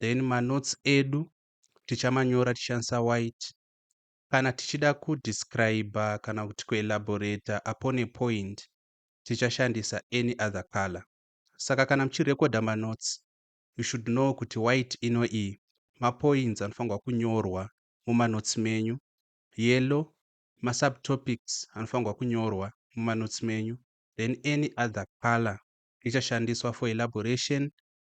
then manotes edu tichamanyora tichishandisa white kana tichida kudescriber kana kuti kuelaborator upon a point tichashandisa any other color saka kana muchirekodha manotes you should know kuti white ino iyi mapoints anofanirwa kunyorwa mumanotes menyu yellow masubtopics anofanirwa kunyorwa mumanotes menyu then any other color ichashandiswa for elaboration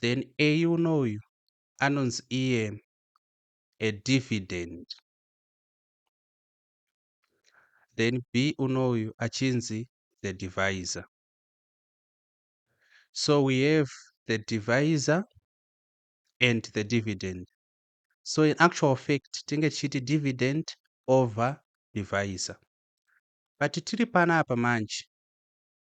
then Eun uyu anonzi iye a dividend then B unoyu achinzi the divisor so we have the divisor and the dividend so in actual fact tinge tichiti dividend over divisor but tiri panapa manje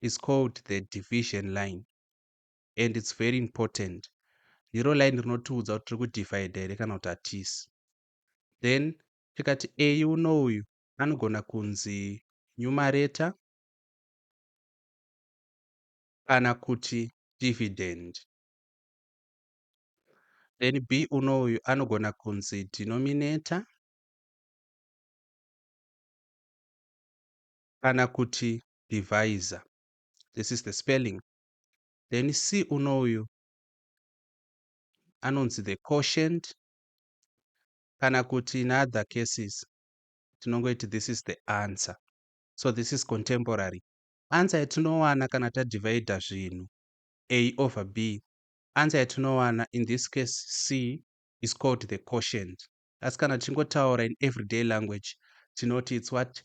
is called the division line and it's very important ndiro line rinotiudza kuti tiri kudivide here kana kuti hatisi then tikati a uno uyu anogona kunzi nyumareta kana kuti dividend then b uno uyu anogona kunzi denominator kana kuti divisor this is the spelling then c unoyu anonzi the quotient kana kuti in other cases tinongoiti this is the answer so this is contemporary ansa yatinowana kana tadivhaidha zvinhu a over b ansa yatinowana in this case c is called the quotient asi kana tichingotaura in everyday language tinoti its what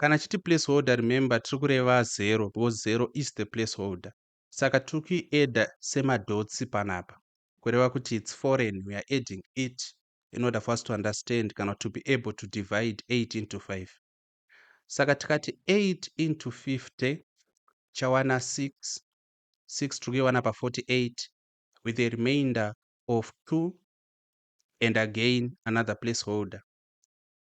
Kana chiti place holder remember tiri kureva zero because zero is the place holder. Saka tiri kuiadder semadhotsi panapa kureva kuti it's foreign we are adding it in order for us to understand kana to be able to divide 8 into 5. Saka tikati 8 into 50 chawana 6 6 tiri kuiwana pa 48 with a remainder of 2 and again another place holder.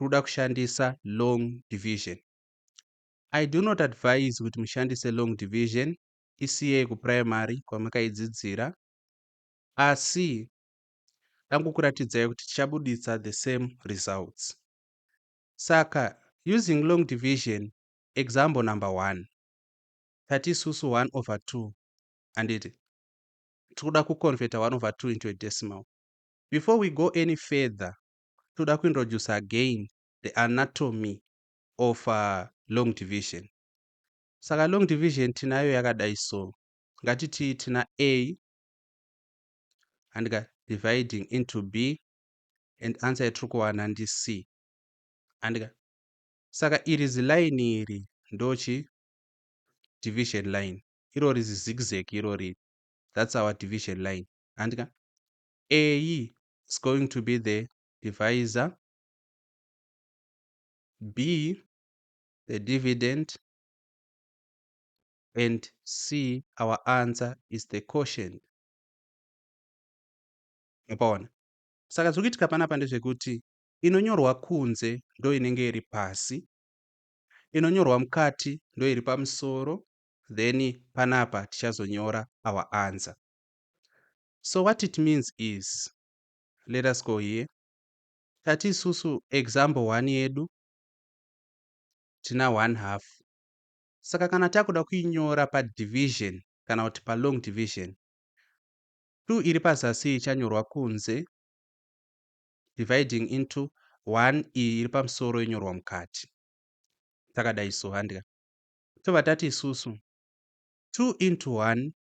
roda kushandisa long division. I do not advise kuti mushandise long division, isiyei kuprimary kwamakaidzidzira, asi dangokuratidzai kuti tichabuditsa the same results. Saka using long division, example number one, tati isusu 1 over 2 handiti tiri kuda kuconverta 1 over 2 into a decimal. Before we go any further, toda kuintroduce again the anatomy of uh, long division saka long division tinayo yakadai so ngatiti tina a handika dividing into b and answer yatiri kuwana ndi c handika saka iri zilaini iri ndochi division line irori zizigzag irori that's our division line handika a is going to be the divisor b the dividend and c our answer is the quotient upaona saka zviri kuitika panapa ndezvekuti inonyorwa kunze ndo inenge iri pasi inonyorwa mukati ndo iri pamusoro then panapa tichazonyora our answer So what it means is, let us go here, tati isusu example one yedu tina one half. Saka kana takuda kuinyora padivision kana kuti palong division, two iri pazasi ichanyorwa kunze dividing into one iyi iri pamusoro yonyorwa mukati. Takadai so handika. Tobva tati isusu two into one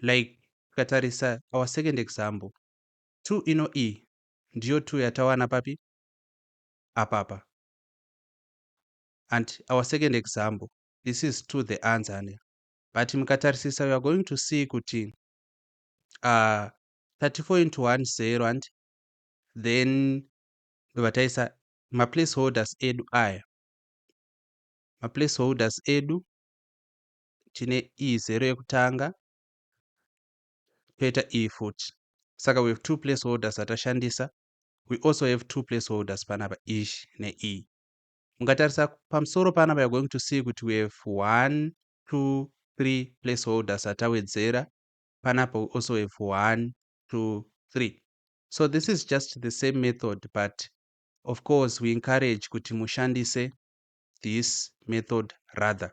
like tikatarisa our second example 2 ino e ndiyo 2 yatawana papi apapa and our second example this is to the answer ane but mukatarisisa we are going to see kuti uh, 34 into 1 0 and then ndobva taisa maplace holders edu aya maplace holders edu tine iyi zero yekutanga toita iyi futi saka we have two place holders atashandisa we also have two place holders panapa ish neiyi e. mungatarisa pamusoro panapa you're going to see kuti we have one two three place holders atawedzera panapa we also have one two three so this is just the same method but of course we encourage kuti mushandise this method rather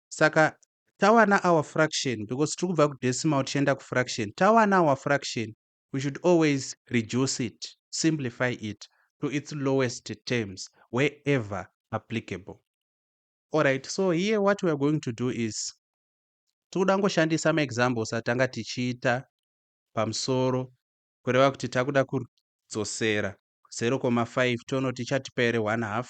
saka tawana our fraction because tiri kubva kudecimal tichienda kufraction tawana our fraction we should always reduce it simplify it to its lowest terms wherever applicable alright so here what weare going to do is tikuda ngoshandisa maexamples atanga tichiita pamusoro kureva kuti takuda kudzosera 0,5 tionoti chatipa here 1 half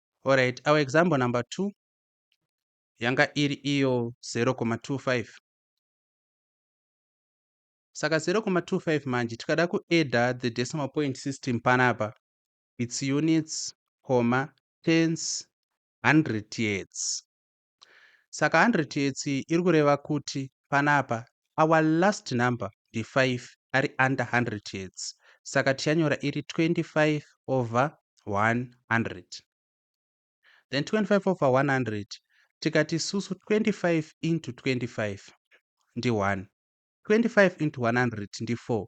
Alright, our example number 2 yanga iri iyo 0,25. Saka 0,25 manje tikada kuadda the decimal point system panapa its units, comma, tens, hundred yets. Saka hundred yets iri kureva kuti panapa our last number ndi five ari under hundred yets saka tichanyora iri twenty five over one hundred then twenty five over one hundred tikati susu twenty five into twenty five ndi one twenty five into one hundred ndi four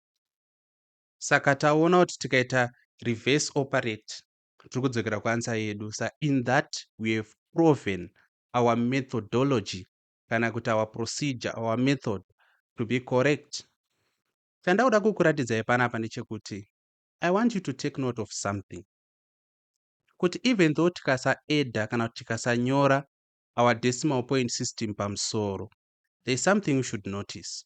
saka taona kuti tikaita reverse operate tiri kudzokera kuansa yedu sa in that we have proven our methodology kana kuti our procedure our method to be correct chandakuda kukuratidzai panapa ndechekuti i want you to take note of something kuti even though tikasaeda kana kuti tikasanyora our decimal point system pamusoro there is something you should notice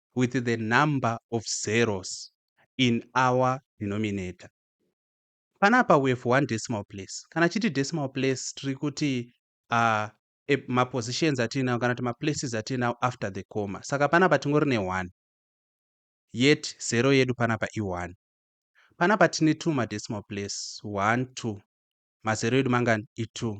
with the number of zeros in our denominator. Panapa we have one decimal place. Kana chiti decimal place tiri kuti uh, e, mapositions atiinawo kana kuti maplaces atiinawo after the comma. Saka panapa tingori ne 1 yet zero yedu panapa i 1. Panapa tine two madecimal place 1 2 mazero edu mangani i 2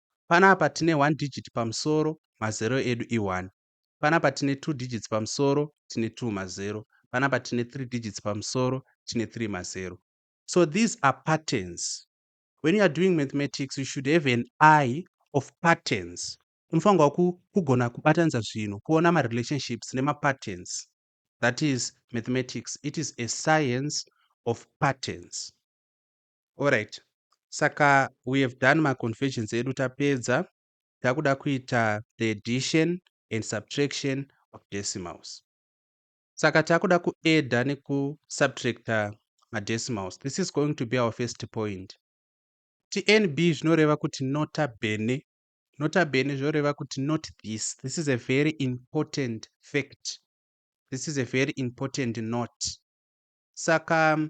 Panapa tine one digit pamusoro, mazero edu i one. Panapa tine two digits pamusoro, tine two mazero. Panapa tine three digits pamusoro, tine three mazero. So these are patterns. When you are doing mathematics, you should have an eye of patterns. Unofanirwa kugona kubatanidza zvinhu, kuona marelationships nemapatterns. That is mathematics. It is a science of patterns. Alright saka we have done ma conversions edu tapedza takuda kuita the addition and subtraction of decimals saka takuda kuadda nekusubtracta madecimals this is going to be our first point tnb zvinoreva kuti nota bene nota bene zvinoreva kuti not this this is a very important fact this is a very important note saka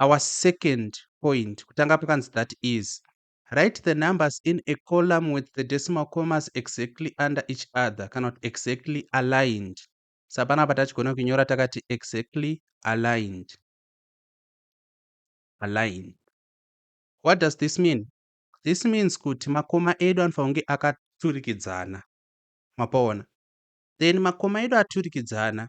Our second point, kutanga pakanzi that is. Write the numbers in a column with the decimal commas exactly under each other kana kuti exactly aligned. Sa panapa tachigona kunyora takati exactly aligned. Aligned. What does this mean? This means kuti makoma edu anofanira kunge akaturikidzana. Mapaona? Then makoma edu aturikidzana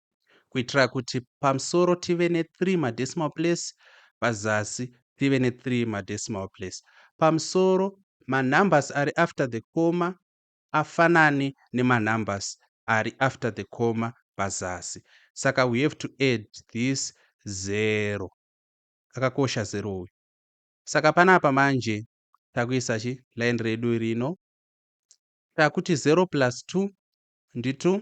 kuitira kuti pamusoro tive ne3 madecimal place pazasi tive ne3 madecimal place pamusoro manumbers ari after the comma afanane nemanumbers ari after the comma pazasi saka we have to add this zero akakosha zero uyu saka panapa manje takuisa chi line redu rino takuti 0 plus 2 ndi 2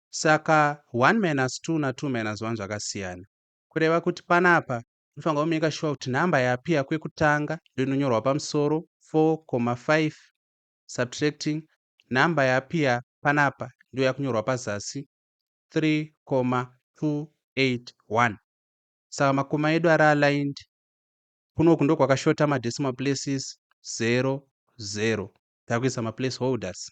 Saka one minus two na two minus one zvakasiyana. Kureva kuti panapa unofanirwa kumaker sure kuti number yapea kwekutanga ndoinonyorwa pamusoro 4,5 subtracting number yapea panapa ndoyakunyorwa pazasi 3,281. Saka makoma edu ari aligned kunoku ndokwakashota madecimal places 0, 0. Takuisa maplace holders.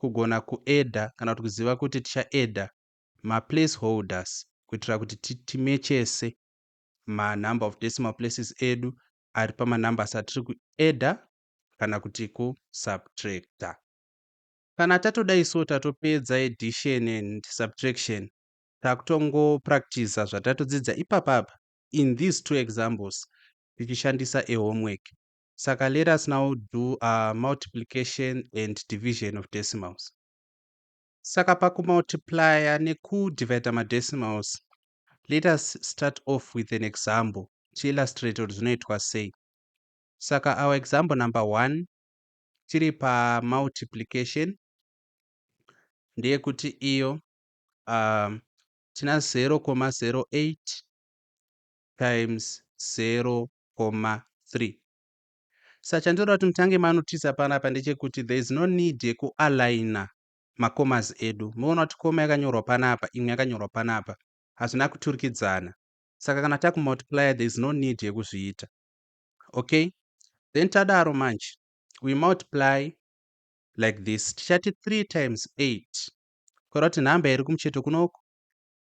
kugona kuedha kana kuti kuziva kuti tichaedha maplace holders kuitira kuti timechese manumber of decimal places edu ari pamanumbers atiri kuedha kana kuti kusubtracta. Kana tatodai so tatopedza addition and subtraction takutongopractiza zvatatodzidza ipapapa in these two examples tichishandisa a homework Saka let us now do a multiplication and division of decimals. Saka pakumultiplier nekudivider madecimals, let us start off with an example tiillustrate kuti zvinoitwa sei. Saka our example number one tiri pamultiplication ndeyekuti iyo um, tina 0,08 times 0,3 sa chandinoda kuti mutange manotisa panapa ndechekuti there is no need yekualigner macomas edu moona kuti coma yakanyorwa panapa imwe yakanyorwa panapa hazvina kuturikidzana saka kana takumultiplier there is no need yekuzviita okay then tadaro manje we multiply like this tichati 3 times 8 kora kuti nhamba iri kumucheto kunoku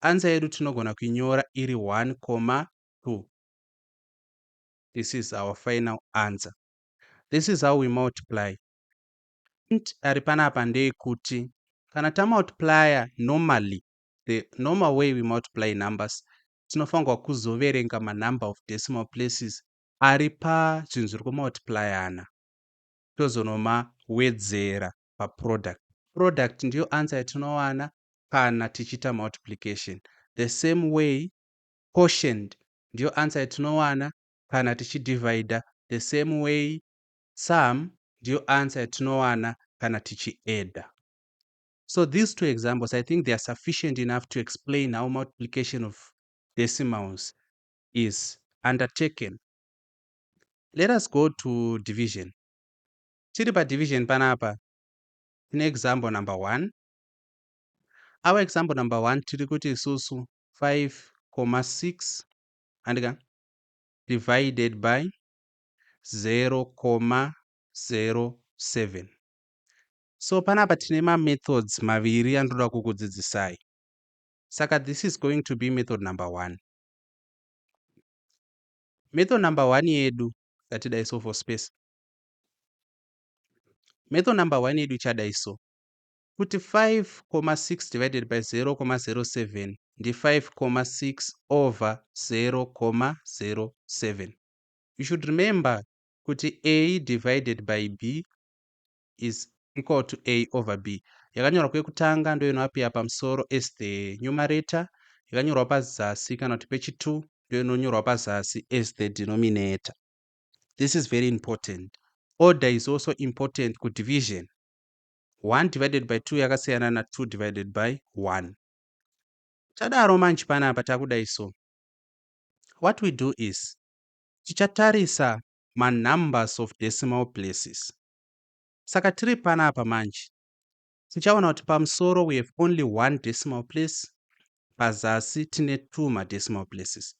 Answer yedu tinogona kuinyora iri 1 comma 2. This is our final answer. This is how we multiply. Int ari panapa ndeyekuti kana tamultiplier normally the normal way we multiply numbers tinofanirwa kuzoverenga manumber of decimal places ari pazvinhu zviri kumultiplyana tozonoma wedzera paproduct. Product ndiyo answer yatinowana kana tichiita multiplication. The same way quotient ndiyo answer yatinowana kana tichidivider. The same way sum ndiyo answer yatinowana kana tichiadder. So these two examples, I think they are sufficient enough to explain how multiplication of decimals is undertaken. Let us go to division. Tiri pa division panapa tine example number one. Our example number one tiri kuti isusu 5,6 handika divided by 0,07. So panapa tine ma methods maviri andoda kukudzidzisai. Saka this is going to be method number one. Method number one yedu yatidai so for space Method number 1 yedu chadai so kuti 5,6 divided by 0,07 ndi 5,6 over 0,07 you should remember kuti a divided by b is equal to a over b yakanyorwa kwekutanga ndoyo inoapia pamusoro as the numerator yakanyorwa pazasi kana kuti pechitu ndoyo inonyorwa pazasi as the denominator this is very important order is also important kudivision 1 divided by 2 yakasiyana na 2 divided by 1 tadaro manje panapa takudai so what we do is tichatarisa manumbers of decimal places saka tiri panapa manje tichaona kuti pamusoro we have only one decimal place pazasi tine two madecimal places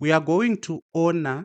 we are going to owner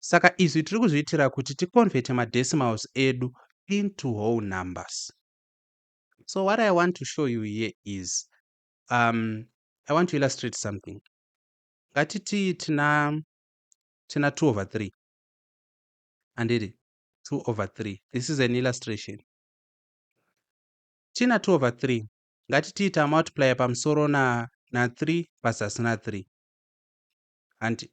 Saka izvi tiri kuzviitira kuti ticonverte madecimals edu into whole numbers. So what I want to show you here is um, I want to illustrate something. Ngatiti tina tina 2 over 3 handiri 2 over 3 this is an illustration tina 2 over 3 ngatitiita multiplier pamusoro na na 3 pazasi na 3 hanti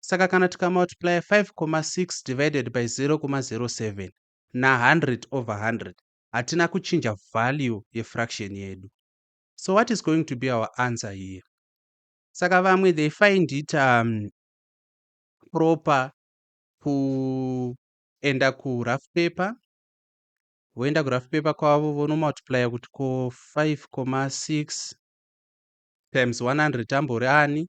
Saka kana tikamultiplya 5,6 divided by 0,07 na100 over 100 hatina kuchinja value yefraction yedu. So what is going to be our answer here? Saka vamwe they find it um, proper kuenda kurough paper voenda kurough paper kwavo vonomultiplya kuti ko 5,6 times 100 ambori ani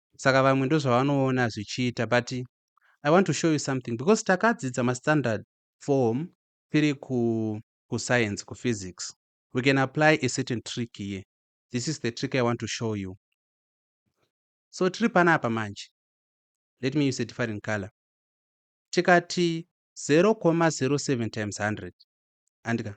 saka vamwe ndozvavanoona zvichiita but i want to show you something because takadzidza mastandard form tiri kuscience kuphysics we can apply a certain trick here this is the trick i want to show you so tiri panapa manje let me use a different color tikati 0,07 times 100 andika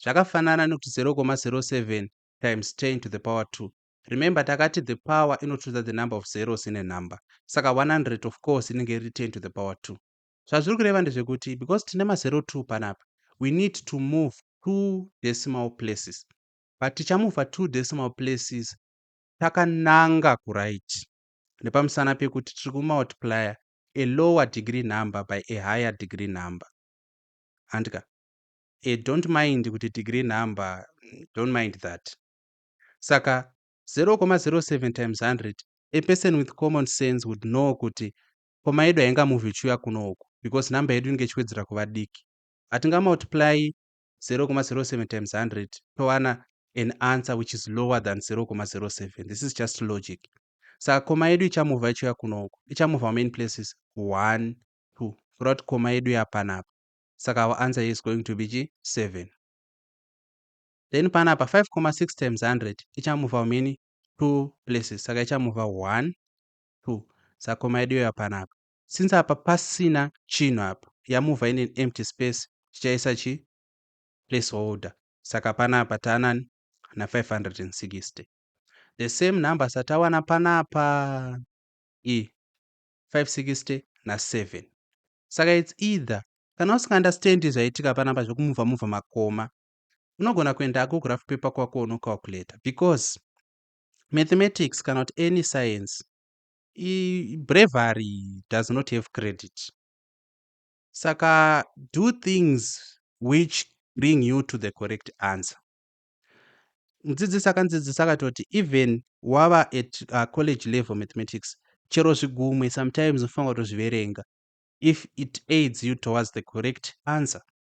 zvakafanana nekuti 0,07 times 10 to the power 2 Remember takati the power inotunza the number of zeros in a number. Saka 100 of course inenge iri 10 to the power 2. Zvazviri kureva ndezvekuti because tine mazero 2 panapa, we need to move two decimal places. But tichamuvha two decimal places takananga kuraiti nepamusana pekuti tiri kumultiplier a lower degree number by a higher degree number. Handika? E, eh, don't mind kuti degree number, don't mind that. Saka 0,07 times 100 a person with common sense would know kuti komaedu hainga move ichiuya kuno uku because number yedu inenge ichiwedzera kuva diki. Hatinga multiply 0,07 times 100 towana an answer which is lower than 0,07. This is just logic. Saka koma yedu ichamuvha ichiuya kuno uku. Ichamuvha how many places? 1, 2. Kureva kuti koma yedu yapanapa. Saka our answer is going to be chi 7. then panapa 5,6 times 100 ichamuva mini 2 places saka ichamuva 1 2 sakoma yedu yoya panapa since apa pasina chinhu apa yamuva in an empty space tichaisa chi place holder saka panapa taanani na 560 the same number satawana panapa e 560 na 7 saka its either kana usingaunderstandi zvaitika panapa zvekumuvha muvha makoma unogona kuendako graph paper kwako unocalculator because mathematics kana kuti any science bravery does not have credit saka do things which bring you to the correct answer mudzidzisi akandzidzisa akatoti even wava at uh, college level mathematics chero zvigumwe sometimes unofanira kutozviverenga if it aids you towards the correct answer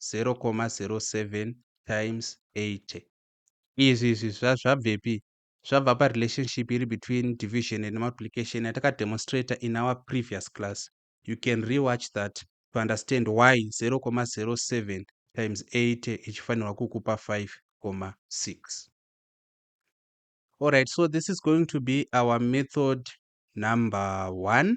0,07 times 80 izvi izvi zvabvepi zvabva parelationship iri between division and multiplication yatakademonstrator in our previous class you can rewatch that to understand why 0,07 times 80 ichifanirwa kukupa 5,6 alright so this is going to be our method number one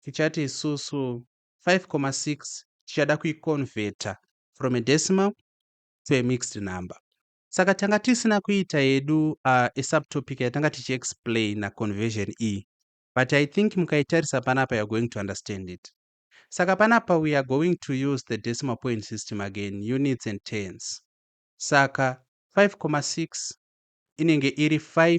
tichati isusu 5,6 tichada kuiconverter from a decimal to a mixed number saka tanga tisina kuita yedu uh, a subtopic yatanga tichiexplaina conversion iyi but i think mukaitarisa panapa you're going to understand it saka panapa we are going to use the decimal point system again units and tens saka 5,6 inenge iri 5